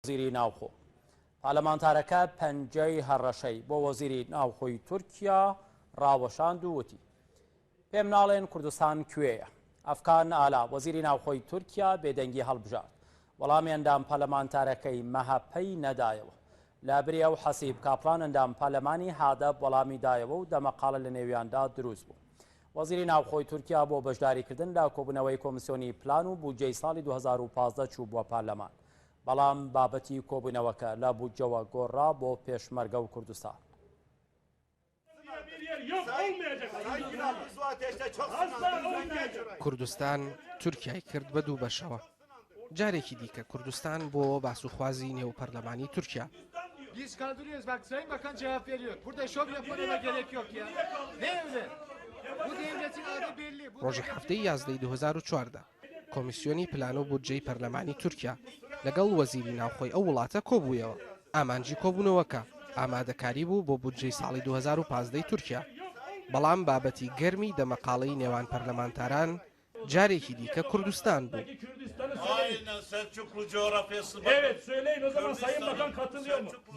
وەزیری ناوخۆ پارلەمانتارەکە پەنجەی هەڕەشەی بۆ وەزیری ناوخۆی تورکیا ڕاوەشاند و وتی پێم ناڵێن کوردستان کوێیە ئەفکان ئالا وەزیری ناوخۆی تورکیا بێدەنگی هەڵبژارد وەڵامی ئەندام پەلەمانتارەکەی مەهەپەی نەدایەوە لە بری ئەو حەسیب کاپلان ئەندام پەلەمانی هادەب وەڵامی دایەوە و دەمەقاڵە لە نێویاندا دروست بوو وەزیری ناوخۆی تورکیا بۆ بەشداریکردن لە کۆبوونەوەی کۆمسیۆنی پلان و بودجەی ساڵی 2015 چوو بووە پارلەمان بەڵام بابەتی کۆبوونەوەکە لە بودجەوە گۆڕرا بۆ پێشمەرگە و کوردستان. کوردستان تورکیای کرد بە دوو بەشەوە. جارێکی دیکە کوردستان بووەوە باسوخوازی نێو پەرلەمانی تورکیا. ڕۆژی حەفتەی یازدەی دوو هەزار و چواردە، کۆمیسیۆنی پلان و بودجەی پەرلەمانی تورکیا لەگەڵ وەزیری ناوخۆی ئەو وڵاتە کۆبوویەوە، ئامانجی کۆبوونەوەکە ئامادەکاری بوو بۆ بودجەی ساڵی دوو هەزار و پازدە ی تورکیا، بەڵام بابەتی گەرمی دەمەقاڵێی نێوان پەرلەمانتاران جارێکی دیکە کوردستان بوو.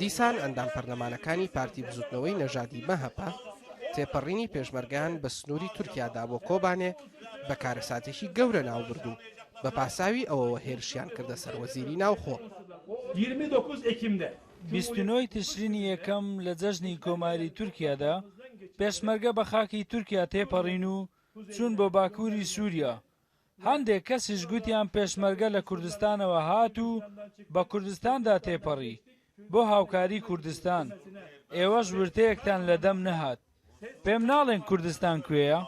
دیسان ئەندام پەرلەمانەکانی پارتی بزوتنەوەی نەژادی-مەهەپە تێپەڕینی پێشمەرگەیان بە سنووری تورکیادا بۆ کۆبانێ بە کارەساتێکی گەورە ناوبرد و بە پاساوی ئەوەوە هێرشیان کردە سەر وەزیری ناوخۆ. بیست و نۆ ی تشرینی یەکەم لە جەژنی کۆماری تورکیادا، پێشمەرگە بە خاکی تورکیا تێپەڕین و چوون بۆ باکووری سووریا. هەندێک کەسیش گوتیان پێشمەرگە لە کوردستانەوە هات و بە کوردستاندا تێپەڕی بۆ هاوکاری کوردستان. ئێوەش ورتەیەکتان لە دەم نەهات. پێم ناڵێن کوردستان کوێیە؟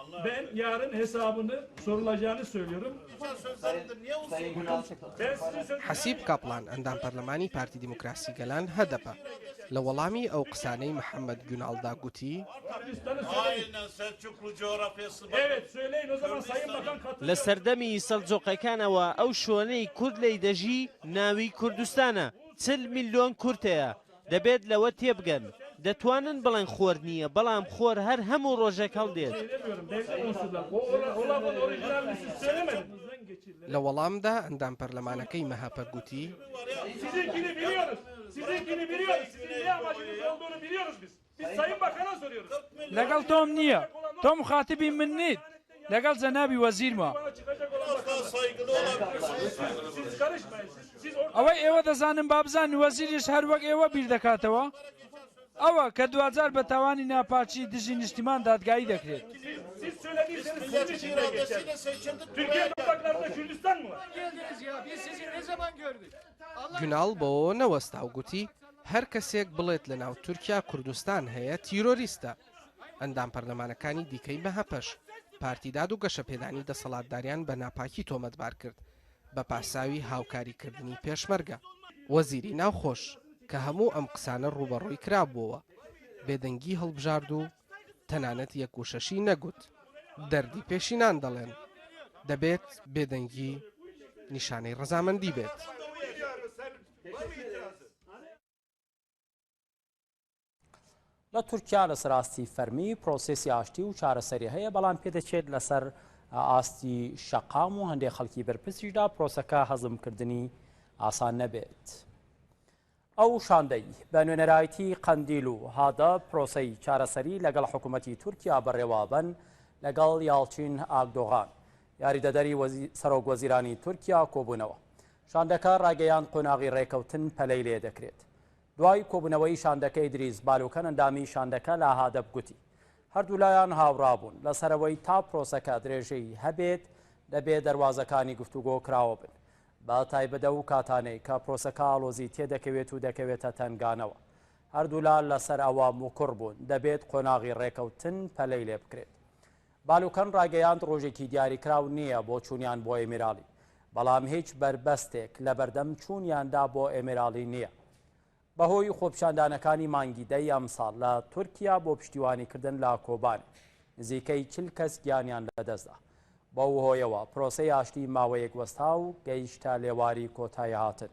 حەسیب کاپڵان ئەندام پەرلەمانی پارتی دیموکراسی گەلان، هەدەپە، لە وەڵامی ئەو قسانەی محەمەد گوناڵدا گوتی، لە سەردەمی سەلجوقیەکانەوە ئەو شوەنەی کورد لێی دەژی ناوی کوردستانە، چل میلۆن کورد هەیە، دەبێت لەوە تێبگەن دەتوانن بڵێن خۆر نییە بەڵام خۆر هەر هەموو ڕۆژێک هەڵدێت. لە وەڵامدا ئەندام پەرلەمانەکەی مەهەپە گوتی، لەگەڵ تۆم نییە، تۆ موخاتبی من نیت، لەگەڵ جەنابی وەزیرمە. ئەوەی ئێوە دەزانن با بزانن وەزیریش هەر وەک ئێوە بیر دەکاتەوە، ئەوە کە دواجار بە تاوانی ناپاکی دژی نیشتیمان دادگایی دەکرێت. گوناڵ بەوەوە نەوەستا و گوتی، هەر کەسێک بڵێت لە ناو تورکیا کوردستان هەیە، تیرۆریستە. ئەندام پەرلەمانەکانی دیکەی مەهەپەش، پارتی داد و گەشەپێدانی دەسەڵاتداریان بە ناپاکی تۆمەتبار کرد، بە پاساوی هاوکاریکردنی پێشمەرگە. وەزیری ناوخۆش، کە هەموو ئەم قسانە ڕووبەڕووی کرابووەوە، بێدەنگی هەڵبژارد و تەنانەت یەک وشەشی نەگوت. دەردی پێشینان دەڵێن. دەبێت بێدەنگی نیشانەی ڕەزامەندی بێت. لە تورکیا لەسەر ئاستی فەرمی پرۆسسی ئاشتی و چارەسەری هەیە بەڵام پێدەچێت لەسەر ئاستی شەقام و هەندێک خەڵکی بەرپسیشدا پرۆسەکە هەزمکردنی ئاسان نەبێت. ئەو شاندەی بە نوێنەرایەتی قەندیل و هادە پرۆسەی چارەسەری لەگەڵ حکوومەتی تورکیا بەڕێوابەن لەگەڵ یاڵچین ئاکدۆغان، یاریدەدەری سەرۆکوەزیرانی تورکیا کۆبوونەوە. شاندەکە ڕایگەیاند قۆناغی ڕێککەوتن پەلەی لێ دەکرێت. دوای کۆبوونەوەی شاندەکە ئیدریس بالوکەن ئەندامی شاندەکە لە هادەپ گوتی، هەردوولایان هاوڕا بوون لە سەرەوەی تا پرۆسەکە درێژەی هەبێت دەبێ دەروازەکانی گفتوگۆ کراوە بن. بە تایبەت ئەو کاتانەی کە پرۆسەکە ئاڵۆزی تێدەکەوێت و دەکەوێتە تەنگانەوە. هەردوولا لەسەر ئەوە موکوڕ بوون دەبێت قۆناغی ڕێکەوتن پەلەی لێ بکرێت. بالوکەن ڕایگەیاند ڕۆژێکی دیاریکراو نییە بۆ چوونیان بۆ ئێمیراڵی، بەڵام هیچ بەربەستێک لەبەردەم چوونیاندا بۆ ئێمیراڵی نییە. بەهۆی خۆپیشاندانەکانی مانگی دەی ئەمساڵ لە تورکیا بۆ پشتیوانیکردن لە کۆبانێ، نزیکەی چل کەس گیانیان لەدەستدا. بەو هۆیەوە پرۆسەی ئاشتی ماوەیەک وەستا و گەیشتە لێواری کۆتاییهاتن.